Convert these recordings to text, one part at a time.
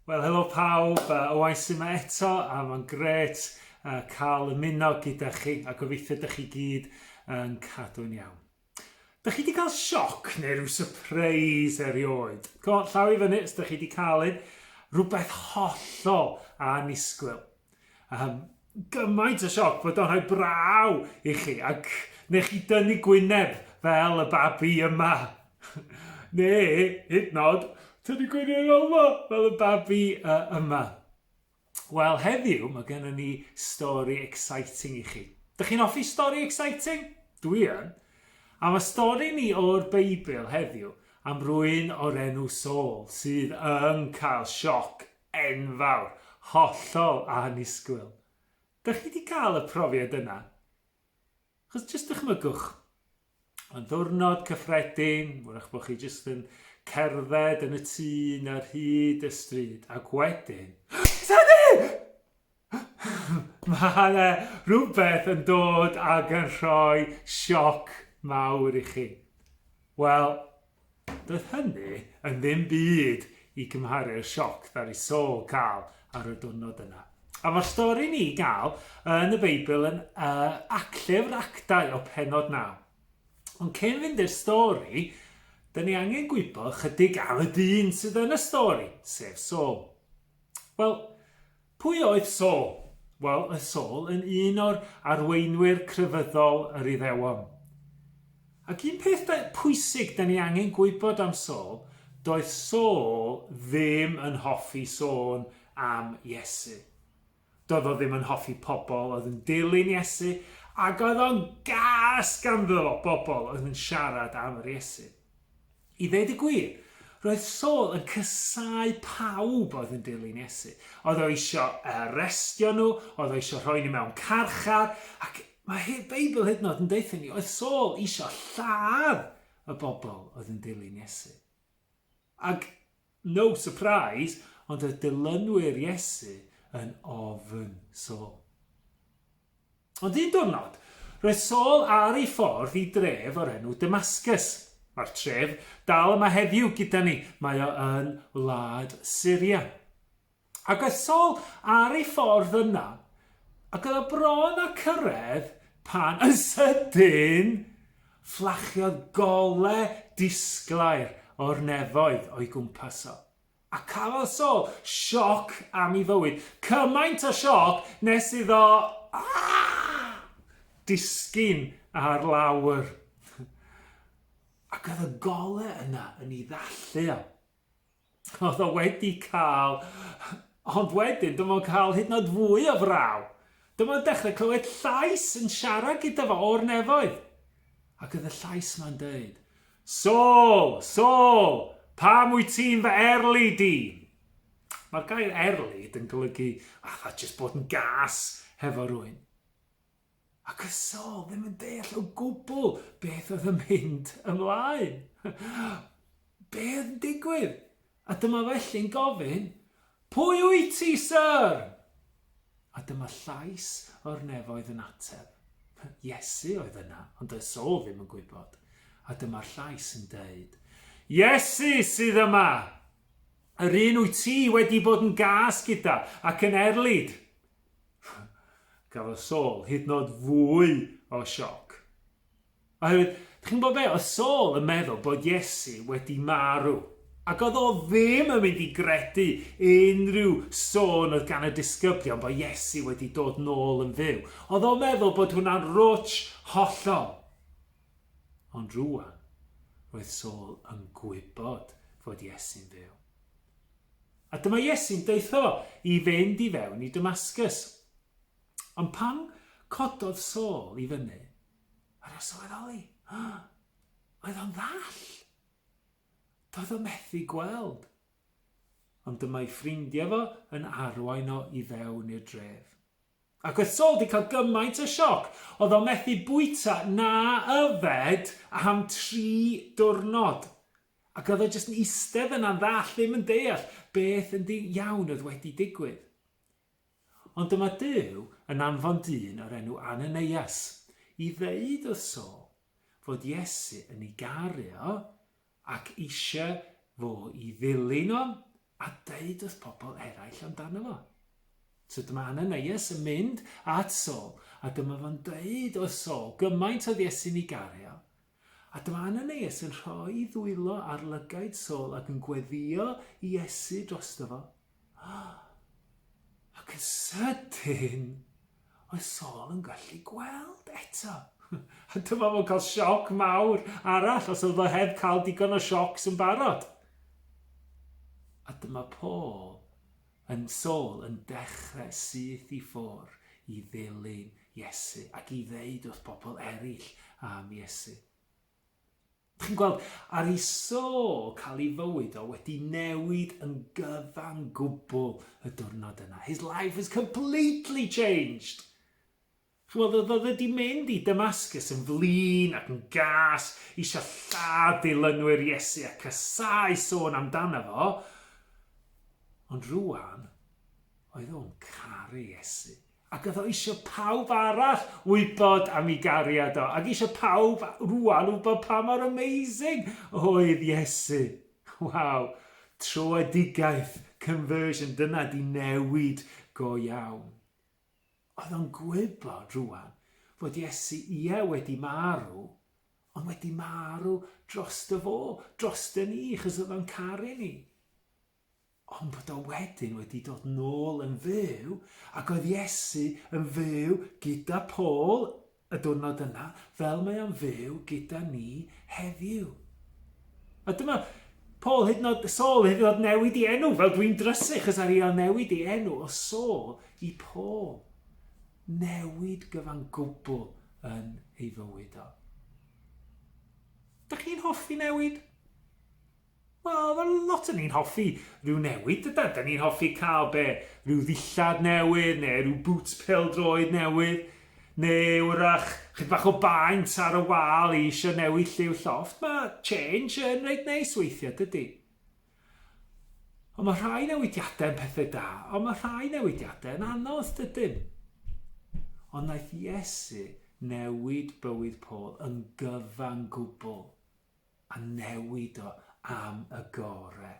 Wel, helo pawb, uh, oes yma eto, a mae'n gret uh, cael ymuno gyda chi, a gobeithio ydych chi gyd yn cadw'n iawn. Dych chi wedi cael sioc neu rhyw surprise erioed? Co, llaw i fyny, os dych chi wedi cael un, rhywbeth hollol annisgwyl. Um, gymaint o sioc bod o'n rhoi braw i chi ac neu chi dynnu gwyneb fel y babi yma. neu, hyd nod, tynnu gwyneb yma fel y babi uh, yma. Wel, heddiw mae gennym ni stori exciting i chi. Dych chi'n hoffi stori exciting? Dwi yn. A mae stori ni o'r Beibl heddiw am rwy'n o'r enw Saul sydd yn cael sioc Enfawr! Hollol annisgwyl! Dych chi 'di cael y profiad yna? Achos jyst dychmygwch, mae'n ddwrnod cyffredin, wrach bod chi jyst yn cerdded yn y tŷ 'na ar hyd y stryd, ac wedyn... Teddy! Mae 'na rhywbeth yn dod ac yn rhoi sioc mawr i chi. Wel, doedd hynny yn ddim byd i gymharu'r sioc ddari Saul cael ar y diwrnod yna. A mae'r stori ni gael yn y Beibl yn uh, acllyfr actau o penod naw. Ond cyn fynd i'r stori, dyn ni angen gwybod chydig am y dyn sydd yn y stori, sef Saul. Wel, Pwy oedd Saul? Wel, oedd Saul yn un o'r arweinwyr crefyddol yr Iddewon. Ac un peth pwysig da ni angen gwybod am Saul, doedd Saul ddim yn hoffi sôn am Iesu. Doedd o ddim yn hoffi pobl oedd yn dilyn Iesu, ac oedd o'n gas ganddo fo bobl oedd yn siarad am yr Iesu. I ddweud y gwir, roedd Saul yn casáu pawb oedd yn dilyn Iesu. Oedd o eisiau arestio nhw, oedd o eisiau rhoi nhw mewn carchar, ac mae Beibl hyd yn oed yn deutha ni, oedd Saul eisiau lladd y bobl oedd yn dilyn Iesu. Ac No surprise, ond y dilynwyr Iesu yn ofn Saul. Ond un diwrnod, roedd Saul ar ei ffordd i dref o'r enw Damascus. Mae'r tref dal yma heddiw gyda ni, mae o yn wlad Syria. Agosol ar ei ffordd yna, ac oedd o bron â cyrraedd pan yn sydyn fflachiodd gole disglair o'r nefoedd o'i gwmpas o, a cafodd Saul sioc am ei fywyd, cymaint o sioc nes iddo disgyn ar lawr. Ac oedd y gole yna yn ei ddallu o. Oedd o wedi cael... Ond wedyn, dyma fo'n cael hyd yn oed fwy o fraw. Dyma fo'n dechrau clywed llais yn siarad gyda fo o'r nefoedd. Ac oedd y llais yma'n dweud, Saul, Saul, pam wyt ti'n fy erlu di? Mae'r gair erlid yn golygu fatha jyst bod yn gas hefo rwy'n. A Cysol ddim yn deall o gwbl beth oedd yn mynd ymlaen. Be oedd yn digwydd? A dyma felly'n gofyn, Pwy wyt ti, Sir? A dyma llais o'r nefoedd yn ateb. Iesu oedd yna, ond doedd Saul ddim yn gwybod. A dyma'r llais yn deud, Iesu sydd yma! Yr un wyt ti wedi bod yn gas gyda ac yn erlid. Cafodd Saul hyd nod fwy o sioc. Oherwydd, chi'n bod be, oedd Saul yn meddwl bod Iesu wedi marw. Ac oedd o ddim yn mynd i gredu unrhyw sôn oedd gan y disgyblion bod Iesu wedi dod nôl yn fyw. Oedd o'n meddwl bod hwnna'n rwtsh hollol. Ond rwan, roedd Saul yn gwybod fod Iesu'n fyw. A dyma Iesu'n deutho i fynd i fewn i Damascus. Ond pan cododd Saul i fyny, yr o sylweddoli, oedd o'n ddall. Doedd o methu gweld. Ond dyma'i ffrindiau fo yn arwain o i fewn i'r dref. Ac oedd Saul di cael gymaint o sioc, oedd o'n methu bwyta na yfed am tri diwrnod. Ac oedd o jyst yn eistedd yna'n ddall, ddim yn deall beth yn ddi iawn oedd wedi digwydd. Ond dyma Duw yn anfon dyn o'r enw Ananias i ddeud wrth Saul fod Iesu yn ei garu o ac eisiau fo i ddilyn o a deud wrth pobl eraill amdano fo. So dyma Ananias yn mynd at Saul a dyma fo'n deud wrth Saul gymaint oedd Iesu'n ei garu o A dyma Ananias yn rhoi i ddwylo ar lygaid Saul ac yn gweddio i Iesu drosto fo. Ac yn sydyn, oedd Saul yn gallu gweld eto. A dyma fo'n cael sioc mawr arall os oedd o heb cael digon o siocs yn barod. A dyma Paul Yn sâl yn dechrau syth i ffwr i ddilyn Iesu ac i ddeud wrth bobl eraill am Iesu. Chi'n gweld, ar i sâl cael ei fywyd o wedi newid yn gyfan gwbl y diwrnod yna. His life was completely changed. Ch'mod, oedd oedd e 'di mynd i Damascus yn flin ac yn gas, isio lladd dilynwyr Iesu a casáu sôn amdano fo, ond rŵan, oedd o'n caru Iesu, ac oedd o isio pawb arall wybod am i gariad o, ac isio pawb rŵan wybod pa mor amazing oedd Iesu. Waw, troedigaeth, conversion, dyna 'di newid go iawn. Oedd o'n gwybod rŵan fod Iesu, ie, wedi marw, ond wedi marw drosto fo, drosto ni, chos oedd o'n caru ni. Ond bod o wedyn wedi dod nôl yn fyw, ac oedd Iesu yn fyw gyda Paul Y diwrnod yna, fel mae o'n fyw gyda ni heddiw. A dyma Paul hyd yn oed, Saul hyd yn oed newid i enw, fel dwi'n drysych ys ar iawn newid i enw o Saul i Paul. Newid gyfan gwbl yn ei fywyd o. Da chi'n hoffi newid? Wel, fel lot o ni'n hoffi rhyw newid, dydan? Dan ni'n hoffi cael, be, rhyw ddillad newydd, neu rhyw bŵts pêl-droed newydd, neu 'w'rach chydig bach o baent ar y wal i isio newid lliw llofft. Mae change yn reit neis weithiau, dydy? Ond mae rhai newidiadau yn pethau da, ond mae rhai newidiadau yn anodd, dydyn? Ond wnaeth Iesu newid bywyd Paul yn gyfan gwbl. a newid o am y gore.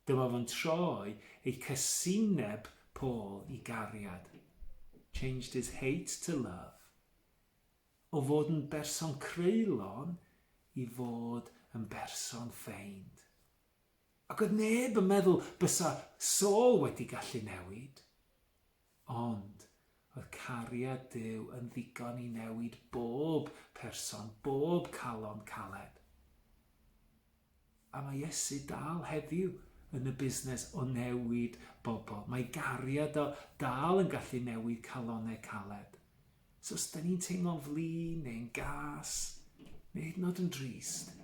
Dyma fo'n troi ei casineb Paul i gariad, changed his hate to love, o fod yn berson creulon i fod yn berson ffeind. Ac oedd neb yn meddwl bysa Saul wedi gallu newid. Ond, oedd cariad Duw yn ddigon i newid bob person, bob calon caled? A mae Iesu dal heddiw yn y busnes o newid bobl. Mae gariad o dal yn gallu newid calonau caled. So, os da ni'n teimlo'n flin neu'n gas, neu hyd yn oed yn drist,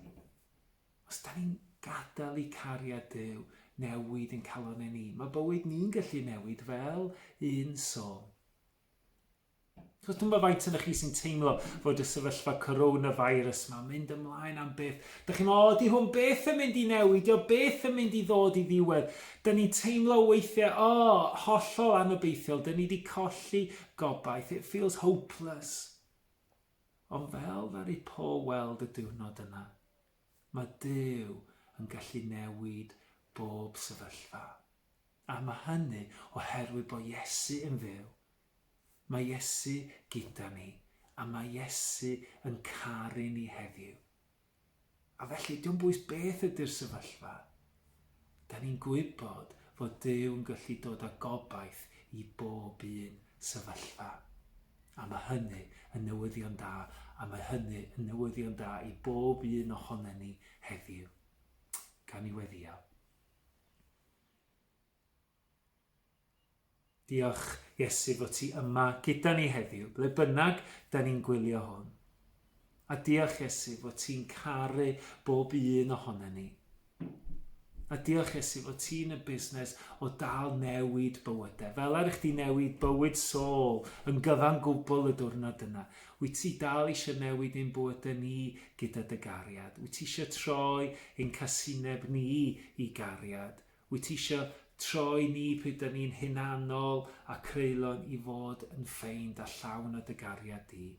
Os da ni'n gadael i cariad Duw newid ein calonau ni, mae bywyd ni'n gallu newid fel un sôn. Os dwi'n bod faint yna chi sy'n teimlo fod y sefyllfa coronavirus yma mynd ymlaen am beth. Da chi'n meddwl, oeddi hwn beth yn mynd i newid, o beth yn mynd i ddod i ddiwedd. Da ni'n teimlo weithiau, o, oh, hollol anobeithiol, da ni wedi colli gobaith, it feels hopeless. Ond fel ddaru Paul weld y diwrnod yna, mae Duw yn gallu newid bob sefyllfa. A mae hynny oherwydd bod Iesu yn fyw. Mae Iesu gyda ni, a mae Iesu yn caru ni heddiw. A felly, dim bwys beth ydy'r sefyllfa, da ni'n gwybod fod Duw yn gallu dod â gobaith i bob un sefyllfa. A mae hynny yn newyddion da, a mae hynny yn newyddion da i bob un ohono ni heddiw. Gan i weddio. Diolch, Iesu, fod ti yma gyda ni heddiw, ble bynnag da ni'n gwylio hwn. A diolch, Iesu, fod ti'n caru bob un ohono ni. A diolch, Iesu, fod ti'n y busnes o dal newid bywydau. Fel ar eich di newid bywyd Saul yn gyfan gwbl y diwrnod yna. Wyt ti dal eisiau newid ein bywydau ni gyda dy gariad. Wyt ti eisiau troi ein casineb ni i gariad. Wyt ti isio troi ni pryd dŷn ni'n hunanol a creulon i fod yn ffeind a llawn o dy gariad di?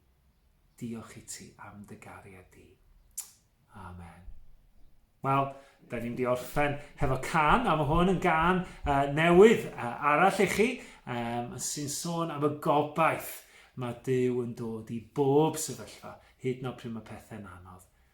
Diolch i ti am dy gariad di. Amen. Wel, da ni'n di orffen hefo can, a mae hwn yn gan uh, newydd uh, arall i chi, um, sy'n sôn am y gobaith mae Dyw yn dod i bob sefyllfa, hyd yn oed pryd mae pethau'n anodd.